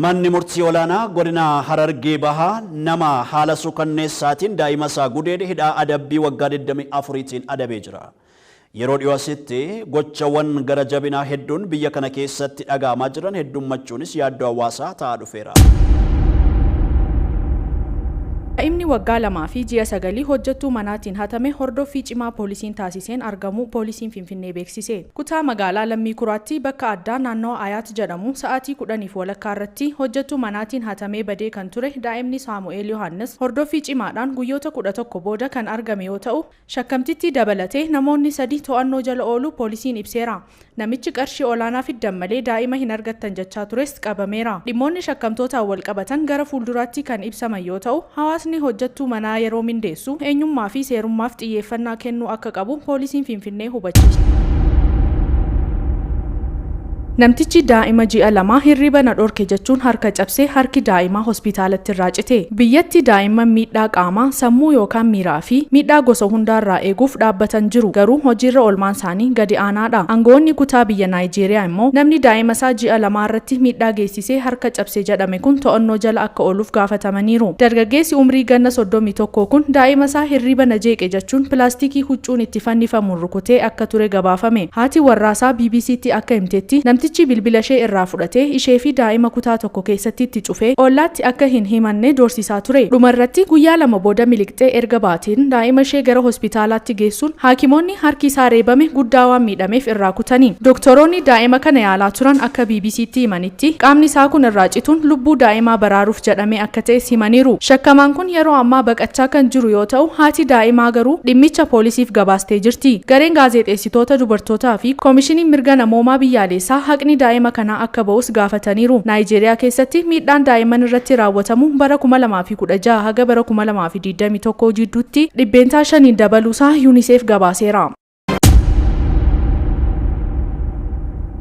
Manni murtii olaanaa godina Harargee Bahaa nama haala suukanneessaatiin daa'ima isaa gudeede hidhaa adabbii waggaa 24tiin adabee jira. Yeroo dhiyoo asitti gochawwan gara jabinaa hedduun biyya kana keessatti dhaga'amaa jiran heddummachuunis yaaddoo hawaasaa ta'aa dhufeera. Daa'imni waggaa lamaa fi ji'a sagalii hojjettuu manaatiin hatame hordoffii cimaa poolisiin taasiseen argamuu poolisiin Finfinnee beeksise. Kutaa magaalaa Lammii Kuraatti bakka addaa naannawa Ayaat jedhamu sa'aatii kudhaniif walakkaa irratti hojjettuu manaatiin hatamee badee kan ture daa'imni Saamu'eel Yohaannis hordoffii cimaadhaan guyyoota kudha tokko booda kan argame yoo ta'u, Shakkamtittii dabalatee namoonni sadi to'annoo jala ooluu poolisiin ibseera. Namichi qarshii olaanaa fiddan malee daa'ima hin argattan jechaa tures qabameera. Dhimmoonni shakkamtootaan walqabatan gara fuulduraatti kan ibsaman yoo ta'u, hawaasni hojjettuu manaa yeroo mindeessu eenyummaa fi seerummaaf xiyyeeffannaa kennuu akka qabu poolisiin Finfinnee hubachiiseera. Namtichi daa'ima ji'a lamaa hirriba na dhorke jechuun harka cabse harki daa'imaa hospitaalatti irraa cite. Biyyatti daa'imman miidhaa qaamaa, sammuu yookaan miiraa fi miidhaa gosa hundaa irraa eeguuf dhaabbatan jiru, garuu hojiirra oolmaan isaanii gadi aanaa dha. Angawoonni kutaa biyya Naayijeeriyaa immoo namni daa'ima isaa ji'a lamaa irratti miidhaa geessisee harka cabse jedhame kun to'annoo jala akka ooluuf gaafatamaniiru. Dargaggeessi umrii ganna soddomii tokko kun daa'ima isaa hirriiba na jeeqe jechuun pilaastikii huccuun itti fannifamu rukutee akka ture gabaafame. Haati warraasaa BBCtti akka himtetti, namtichi bilbilashee irraa fudhatee isheefi daa'ima kutaa tokko keessatti itti cufee ollaatti akka hin himanne doorsisaa ture. Dhumarratti guyyaa lama booda miliqxee erga baateen daa'imashee gara hospitaalaatti geessuun haakimoonni harki isaa reebame guddaa waan miidhameef irraa kutani. Doktoroonni daa'ima kana yaalaa turan akka BBCtti himanitti, tti qaamni isaa kun irraa cituun lubbuu daa'imaa baraaruuf jedhamee akka ta'es himaniiru. Shakkamaan kun yeroo ammaa baqachaa kan jiru yoo ta'u, haati daa'imaa garuu dhimmicha poolisiif gabaastee jirti. Gareen gaazeexeessitoota dubartootaa fi Komishiniin Mirga Namoomaa Biyyaaleessaa haqni daa'ima kanaa akka ba'us gaafataniiru. Naayijeeriyaa keessatti miidhaan daa'imman irratti raawwatamu bara 2016 haga bara 2021 jidduutti dhibbeentaa shaniin dabaluusaa Unicef gabaaseera.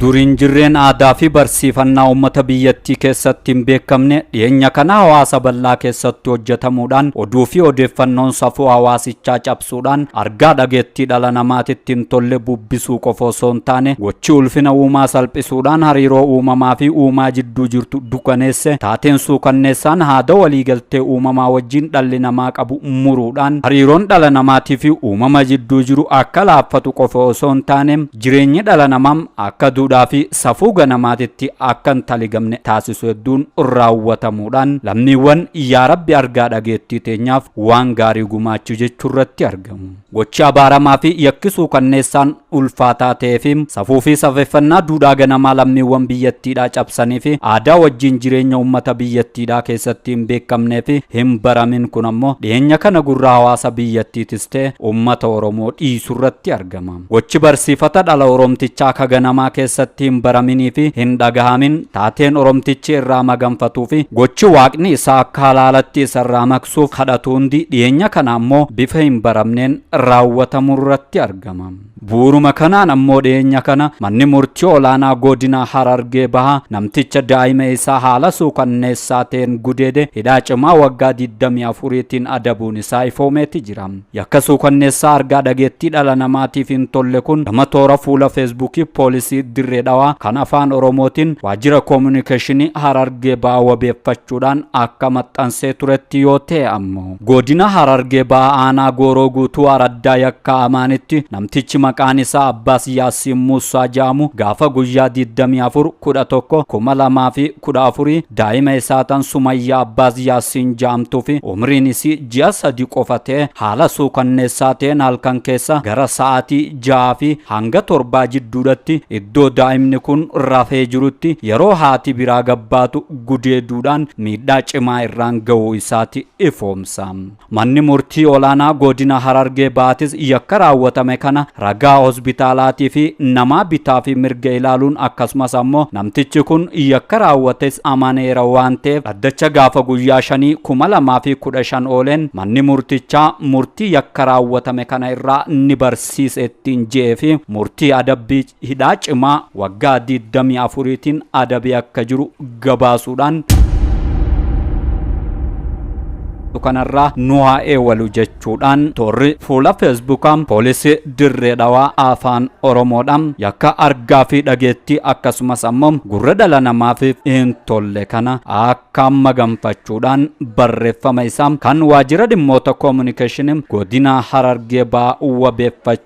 Duriin jirreen aadaa fi barsiifannaa uummata biyyattii keessatti hin beekamne dhiyeenya kana hawaasa bal'aa keessatti hojjetamuudhaan oduu fi odeeffannoon safuu hawaasichaa cabsuudhaan argaa dhageettii dhala namaatitti hin tolle bubbisuu qofa osoo hin taane gochi ulfina uumaa salphisuudhaan hariiroo uumamaa fi uumaa jidduu jirtu dukaneesse taateen suukanneessaan haada waliigaltee uumamaa wajjin dhalli namaa qabu muruudhaan hariiroon dhala namaatiifi uumama jidduu jiru akka laaffatu qofa osoo hin taane jireenyi dhala namaa akka duudhaafi safuu ganamaatitti akka hin taligamne taasisu hedduun raawwatamuudhaan lammiiwwan yaa Rabbi argaa dhageettii teenyaaf waan gaarii gumaachi jechuurratti argamu. Gochi abaaramaa fi yakki suukanneessaan ulfaataa ta'ee fi safuu fi safeeffannaa duudhaa ganamaa lammiiwwan biyyattiidhaa cabsanii fi aadaa wajjiin jireenya ummata biyyattiidhaa keessatti hin beekamnee fi hin baramin kun ammoo dhiheenya kana gurra hawaasa biyyattiitis ta'e ummata Oromoo dhiisurratti argama. Gochi barsiifata dhala Oromtichaa ka ganamaa keessatti hin baraminii fi hin dhagahamin taateen Oromtichi irraa maganfatuu fi gochi Waaqni isaa akka halaalatti isarraa suuf kadhatu hundi dhiyeenya kana ammoo bifa hin baramneen raawwatamurratti argama. Bu'uuruma kanaan ammoo dhiyeenya kana manni murtii olaanaa godina Harargee Bahaa namticha daa'ima isaa haala suukanneessaa ta'een gudeede hidhaa cimaa waggaa 24tiin adabuun isaa ifoomeeti jira. Yakka suukanneessaa argaa dhageettii dhala namaatiif hin tolle kun gama toora fuula Feesbuukii Poolisii Dirree Dhawaa kan Afaan Oromootiin Waajjira Koomunikeeshinii Harargee Bahaa wabeeffachuudhaan akka maxxansee turetti yoo ta'e ammoo Godina Harargee Bahaa Aanaa Gooroo Guutuu Araddaa Yakkaa Amaanitti namtichi maqaan isaa Abbaas Yaasiin Muussaa jedhamu gaafa guyyaa 24 11 2000 fi 14 daa'ima isaa tan Sumayyaa Abbaas Yaasiin ja'amtuu fi umriin isii ji'a sadi qofa ta'e haala suukanneessaa ta'een halkan keessa gara sa'aatii ja'aa fi hanga torbaa jidduudhatti iddoo daa'imni kun rafee jirutti yeroo haati biraa gabbaatu gudeeduudhaan miidhaa cimaa irraan ga'uu isaati ifoomsa. Manni Murtii Olaanaa Godina Harargee Bahaatis yakka raawwatame kana ragaa hospitaalaatii fi namaa bitaa fi mirga ilaaluun akkasumas ammoo namtichi kun yakka raawwates amaneera waan ta'eef dhaddacha gaafa guyyaa 5/2015 ooleen manni murtichaa murtii yakka raawwatame kana irraa ni barsiisa ittiin je'ee fi murtii adabbii hidhaa cimaa waggaa 24tiin adabee akka jiru gabaasuudhaan kanarraa nu haa eewalu jechuudhaan toorri fuula feesbuukaa poolisii dirree dhawaa afaan oromoodhaan yakka argaa fi dhageettii akkasumas ammoo gurra dhala namaaf hin tolle kana akka maganfachuudhaan barreeffama isaa kan waajjira dhimmoota koominikeeshinii godina harargee ba'aa wabeeffachuu